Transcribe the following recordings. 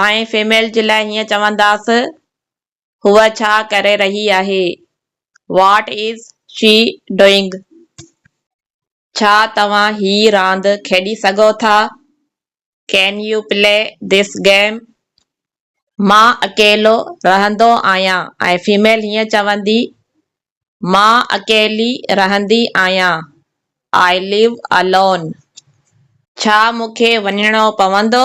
آئين فيميل جي لاء هيئن چونداس هوء ڇا ڪري رهي آهي What is she doing ڇا توهان هي راند کيڏي سگهو ٿا Can you play this game مان اڪيلو رهندو آهيان ۽ فيميل هيئن چوندي مان اڪيلي رهندي آهيان I live alone ڇا مون کي وڃڻو پوندو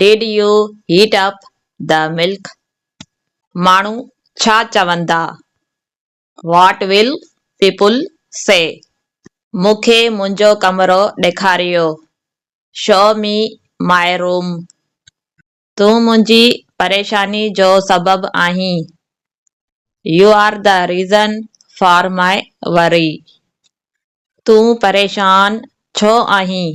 did you heat up the milk ماڻهو ڇا چوندا واٽ ول پيپل سي مون کي منهنجو ڪمرو ڏيکاريو شو مي مائي روم تون منهنجي پريشاني جو سبب آهين you are the reason for my worry تون پريشان ڇو آهين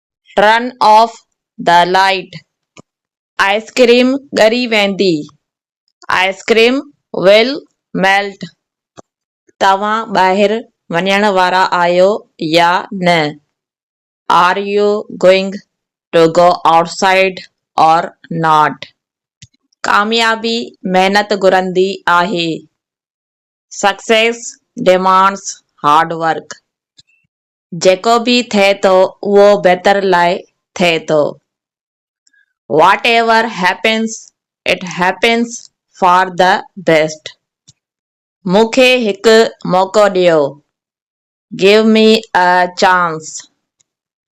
turn off the light, ice cream ڳري ويندي، آئسڪريم ول ميلٽ، توهان ٻاهر وڃڻ وارا آهيو يا نه، are you going to go outside or not, ڪاميابي محنت گهرندي آهي، سڪسيس ڊيمانڊس هارڊ ورڪ، جيڪو به ٿئي ٿو اهو بهتر لاء ٿئي ٿو واٽ ever happens it happens for the best مون کي هڪ موقعو ڏيو گيو مي اي چانس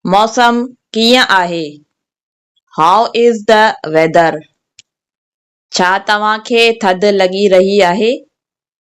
موسم ڪيئن آهي هائو از دي ويدر ڇا توهان کي ٿڌ لڳي رهي آهي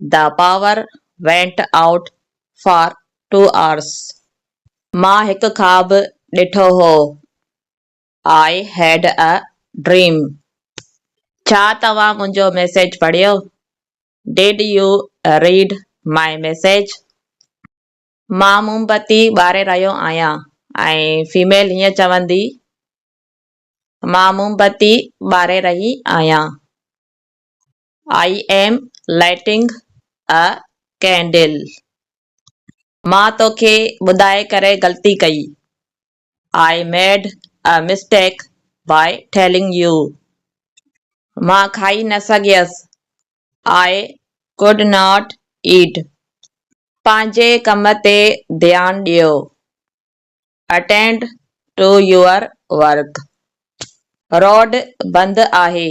The power went out for two hours. مان هڪ خواب ڏٺو هو. I had a dream. ڇا توهان منهنجو ميسيج پڙهيو؟ Did you read my message? مان موم بتي ٻاري رهيو آهيان ۽ فيميل هيئن چوندي، مان موم بتي ٻاري رهي آهيان. I am lighting a candle مان توکي ٻڌائي ڪري غلطي ڪئي I made a mistake by telling you مان کائي نه سگهيس آئي ڪوڊ ناٽ ايٽ پنهنجي ڪم تي ڌيان ڏيو attend to your work road بند آهي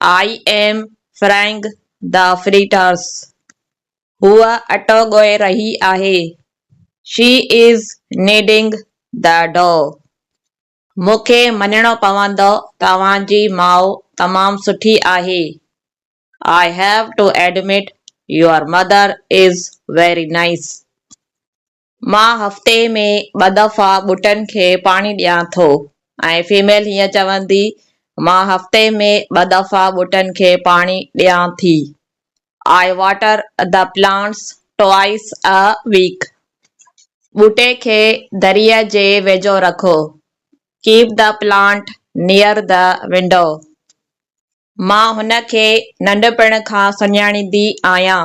آء ايم فرينگ دا فريٽارس، هوء اٽو ڳوهي رهي آهي، she is kneading the dough, مون کي مڃڻو پوندو توهان جي ماء تمام سٺي آهي، I have to admit your mother is very nice, مان هفتي ۾ ٻه دفعا ٻوٽن کي پاڻي ڏيان ٿو ۽ فيميل هيئن چوندي، مان هفتي ۾ ٻه دفعا ٻوٽن کي پاڻي ڏيان ٿي، I water the plants twice a week. ٻوٽي کي دريء جي ويجهو رکو، Keep the plant near the window. مان هن کي ننڍپڻ کان سڃاڻيندي آهيان،